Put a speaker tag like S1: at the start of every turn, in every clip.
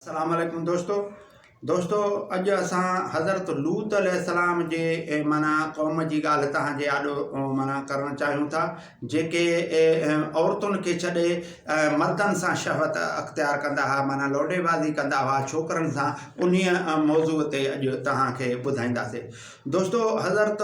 S1: اسلام عليڪم دوستو دوستو اڄ اسان حضرت لوط عليه السلام جي معنی قوم جي ڳالهه توهان جي آڏو معنی ڪرڻ چاهيون ٿا جيڪي عورتن کي ڇڏي مردن سان شهوت اختيار ڪندا هئا معنی لوڏي بازي ڪندا هئا ڇوڪرن سان انهي موضوع تي اڄ توهان کي ٻڌائينداسي دوستو حضرت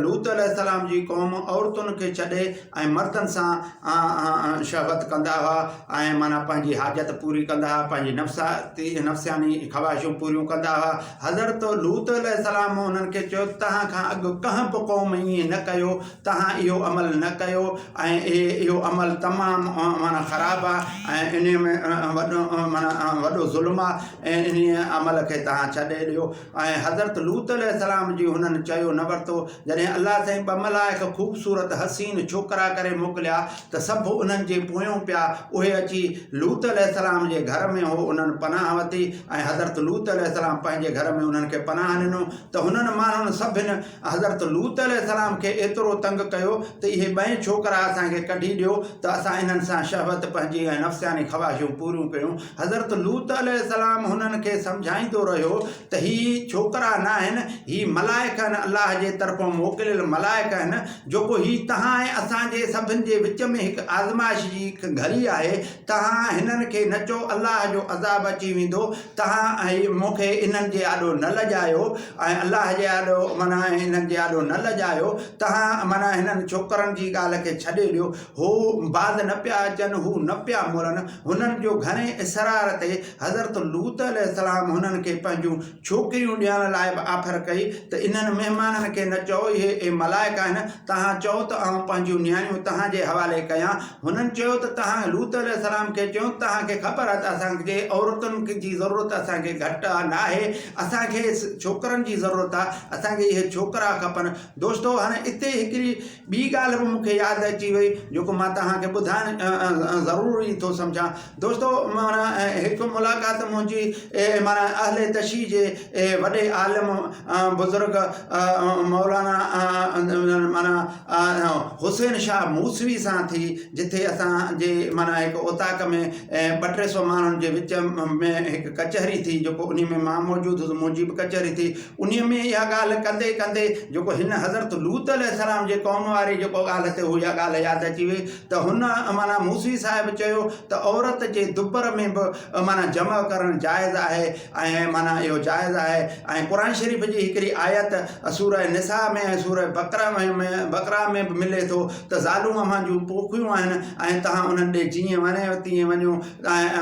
S1: لوط عليه السلام جي قوم عورتن کي ڇڏي ۽ مردن سان شهوت ڪندا هئا ۽ معنيٰ پنهنجي حاجت پوري ڪندا هئا پنهنجي نفساتي نفسياني خواهشون پوريون ڪندا هئا حضرت لوط عليه السلام انهن کي چيو توهان کان اڳ ڪنهن به قوم ائين نه ڪيو توهان اهو عمل نه ڪيو ۽ اهو عمل تمام معنيٰ خراب آهي ۽ انهي ۾ وڏو معنيٰ وڏو ظلم آهي انهي عمل کي توهان ڇڏي ڏيو ۽ حضرت لوط عليه السلام جي هنن چيو نه ورتو جڏهن الله سائين ٻه ملائڪ خوبصورت حسين ڇوڪرا ڪري موڪليا ته سڀ انهن جي پويون پيا اهي اچي لوط عليه السلام جي گهر ۾ هو انهن پناهه وتي ۽ حضرت لوط عليه السلام پنهنجي گهر ۾ انهن کي پناهه ڏنو ته هنن ماڻهن سڀن حضرت لوط عليه السلام کي ايترو تنگ ڪيو ته اهي ٻئي ڇوڪرا اسان کي ڪڍي ڏيو ته اسان انهن سان شهوت پنهنجي ۽ نفسياني خواهشون پوريون ڪيون. حضرت لوط عليه السلام هنن کي سمجهائيندو رهيو ته هي ڇوڪرا ناهن، هي ملائڪ آهن، الله جي طرفون موڪليل ملائڪ آهن، جوڪو هي توهان ۽ اسان جي سڀن جي وچ ۾ هڪ آزمائش جي هڪ گهڙي آهي، توهان هنن کي نه چئو، الله جو عذاب اچي ويندو، توهان ۽ مون کي انهن جي آڏو نه لڄايو ۽ الله جي آڏو معنيٰ انهن جي آڏو نه لڄايو، توهان معنيٰ هنن ڇوڪرن جي ڳالهه کي ڇڏي ڏيو، هو باز نه پيا اچن، هو نه پيا مڙن، هنن جو گهڻي اصرار تي حضرت لوط عليه السلام هنن کي پنهنجون ڇوڪريون ڏيڻ لاء به آفر ڪئي ته انهن مهمانن کي نه چئو اهي اي ملائڪ آهن، توهان چئو ته آئون پنهنجيون نياڻيون توهان جي حوالي ڪيان. هنن چيو ته توهان لوط عليه السلام کي چئو ته توهان کي خبر آهي ته اسان جي عورتن جي ضرورت اسان کي گهٽ ناهي، اسان کي ڇوڪرن جي ضرورت آهي، اسان کي اهي ڇوڪرا کپن. دوستو! هاڻي اتي هڪڙي ٻي ڳالهه به مون کي ياد اچي وئي جيڪو مان توهان کي ٻڌائڻ ضروري ٿو سمجهان دوستو مانا هڪ ملاقات منهنجي مانا اهل تشيع جي وڏي عالم بزرگ مولانا مانا حسين شاهه موسوي سان ٿي جتي اسانجي مانا هڪ اوطاق ۾ ٻه ٽي سو ماڻهن جي وچ ۾ هڪ ڪچهري ٿي جيڪو ان ۾ مان موجود هوس منهنجي به ڪچهري ٿي انهيء ۾ اها ڳالهه ڪندي ڪندي جيڪو هن حضرت لوط عليه السلام جي قوم واري جيڪو ڳالهه تي اها ڳالهه ياد اچي وئي ته هن معنيٰ موسوي صاحب چيو ته عورت جي دٻر ۾ به معنيٰ جمع ڪرڻ جائز آهي ۽ معنيٰ اهو جائز آهي ۽ قرآن شريف جي هڪڙي آيت سوره نساء ۾ ۽ سوره بقره ۾ بقره ۾ به ملي ٿو ته زالون اوهان جون پوکيون آهن ۽ توهان انهن ڏي جيئن وڻيو تيئن وڃو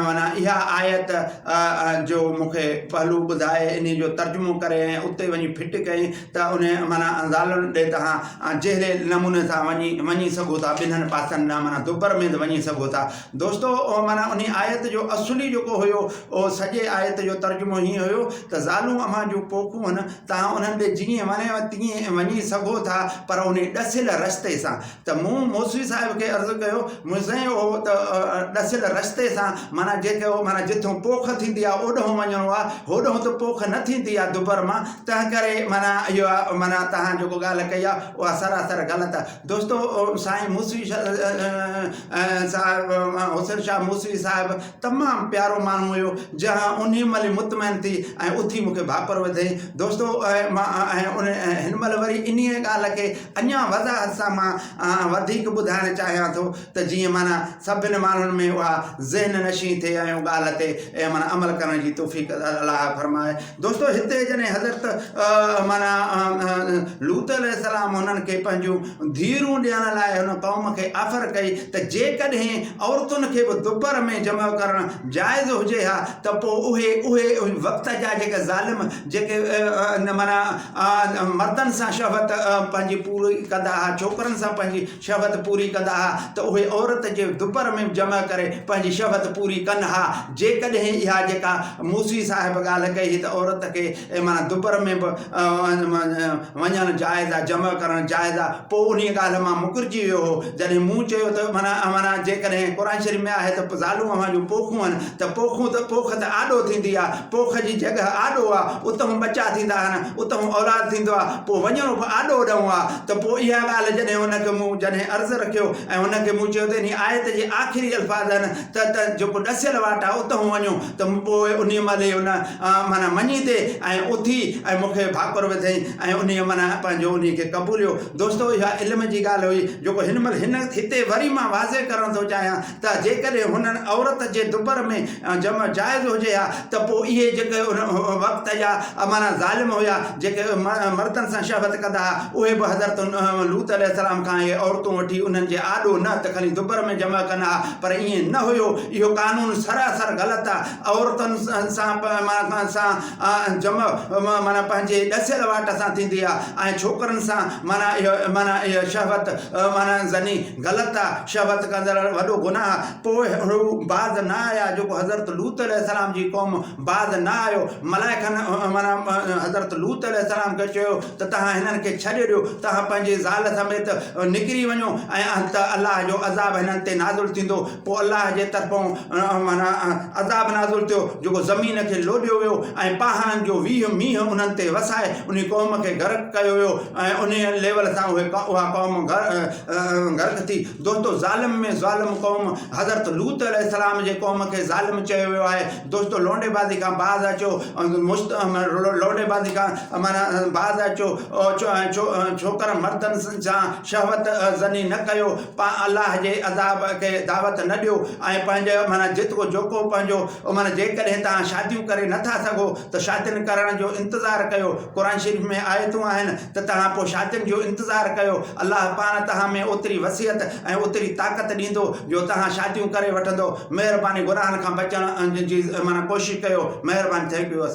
S1: معنيٰ اها آيت ۽ جو مون کي پهلو ٻڌائي انهيء جو ترجمو ڪري ۽ اتي وڃي فٽ ڪئي ته انهيء معنيٰ زالن ڏي توهان جهڙي نموني سان وڃي وڃي سگهو ٿا ٻنهن پاسن ڏانهن معنيٰ دبر مينڌ وڃي سگهو ٿا. دوستو معنيٰ انهيء آيت جو اصلي جيڪو هيو اهو سڄي آيت جو ترجمو هيئن هيو ته زالون اوهان جون پوکون هن توهان انهن ڏي جيئن وڻيو تيئن وڃي سگهو ٿا پر انهي ڏسيل رستي سان. ته مون موسوي صاحب کي عرض ڪيو، مون سائين اهو ته ڏسيل رستي سان معنيٰ جيڪي اهو معنيٰ جتون پوک ٿيندي آهي اوڏهون وڃڻو آهي، هوڏهون ته پوک نه ٿيندي آهي دٻر مان، تنهن ڪري معنيٰ اهو معنيٰ توهان جيڪو ڳالهه ڪئي آهي اها سراسر غلط آهي. دوستو سائين موسوي صاحب حسين شاهه موسوي صاحب تمام پيارو ماڻهو هيو جنهن انهي مهل ئي مطمئن ٿي ۽ اٿي مون کي ڀاڪر وڌيائين دوستو مان هن مهل وري انهي ڳالهه کي اڃان وضاحت سان مان وڌيڪ ٻڌائڻ چاهيان ٿو ته جيئن معنيٰ سڀني ماڻهن ۾ اها ذهن نشين ٿئي ۽ ڳالهه تي معنيٰ عمل ڪرڻ جي توفيق الله فرمائي دوستو هتي جڏهن حضرت معنيٰ لوط عليه السلام انهن کي پنهنجون ڌيئرون ڏيڻ لاء هن قوم کي آفر ڪئي ته جيڪڏهن عورتن کي به دوپهر ۾ جمع ڪرڻ جائز هجي ها ته پوء اهي اهي وقت جا جيڪي ظالم جيڪي معنيٰ مردن سان شهوت پنهنجي پوري ڪندا ها ڇوڪرن سان پنهنجي شھوت پوري ڪندا ھا ته اھي عورت جي دٻر ۾ جمع ڪري پنھنجي شھوت پوري ڪن ھا جيڪڏھن اھا جيڪا موسوي صاحب ڳالھه ڪئي ھي ته عورت کي معنيٰ دٻر ۾ به وڃڻ جائز آ جمع ڪرڻ جائز آ پوء انھيء ڳالھه مان مڪرجي ويو ھو جڏھن مون چيو ته معنيٰ جيڪڏھن قرآن شريف ۾ آھي ته زالون اوھان جون پوکون ھن ته پوکون ته پوک ته آڏو ٿيندي آ پوک جي جڳھه آڏو آ اتھون ٻچا ٿيندا ھن اتھون اولاد ٿيندو آ پوء وڃڻو به آڏو ڏئون آ ته پوء اها ڳالهه جڏهن ان کي مون جڏهن عرض رکيو ۽ ان کي مون چيو ته انهي آيت جي آخري الفاظ آهن ته ته جيڪو ڏسيل واٽ آهي اتهون وڃو ته پوء انهي مهل ئي ان معنيٰ مڃي تي ۽ اٿي ۽ مون کي ڀاڪر وڌئين ۽ انهي معنيٰ پنهنجو انهي کي قبوليو دوستو اها علم جي ڳالهه هئي جيڪو هن مهل هن هتي وري مان واضح ڪرڻ ٿو چاهيان ته جيڪڏهن هنن عورت جي دٻر ۾ جمع جائز هجي ها ته پوء اهي جيڪي ان وقت جا معنيٰ ظالم هيا جيڪي مردن سان شهوت ڪندا ها اهي به حضرت لوط عليه السلام کان اهي عورتون وٺي انهن جي آڏو نه ته خلي دٻر ۾ جمع ڪن ها پر ائين نه هيو اهو قانون سراسر غلط آهي عورتن سان معنيٰ سان جمع معنيٰ پنهنجي ڏسيل واٽ سان ٿيندي آهي ۽ ڇوڪرن سان معنيٰ اهو معنيٰ اهي شهوت معنيٰ زني غلط آ، شھوت ڪندڙ ۽ وڏو گناھ، پوء ھو باز نه آيا، جيڪو حضرت لوط عليه السلام جي قوم باز نه آيو، ملائڪن معنيٰ حضرت لوط عليه السلام کي چيو ته توھان ھنن کي ڇڏي ڏيو، توھان پنھنجي زال سميت نڪري وڃو ۽ ته الله جو عذاب ھنن تي نازل ٿيندو، پوء الله جي طرفون معنيٰ عذاب نازل ٿيو، جيڪو زمين کي لوڏيو ويو ۽ پاھڻن جو ويھه مينھن انھن تي وسائي انھي قوم کي غرق ڪيو ويو ۽ انھيء ليول سان اھي اھا قوم ڳالهه نه ٿي دوستو ظالم ۾ ظالم قوم حضرت لوط عليه السلام جي قوم کي ظالم چيو ويو آهي دوستو لونڊي بازي کان باز اچو مست لونڊي بازي کان مانا باز اچو ڇوڪرن مردن سان شهوت زني نه ڪيو پا الله جي عذاب کي دعوت نه ڏيو ۽ پنهنجو مانا جيترو جوکو پنهنجو مانا جيڪڏهن تان شاديون ڪري نٿا سگهو ته شادين ڪرڻ جو انتظار ڪيو قرآن شريف ۾ آيتون آهن ته توهان پوء شادين جو انتظار ڪيو، الله پاڻ توهان ۾ اوتري وسعت ۽ اوتري طاقت ڏيندو جو توهان شاديون ڪري وٺندؤ، مهرباني گناهن کان بچڻ جي معنيٰ ڪوشش ڪيو، مهرباني Thank you اسلام.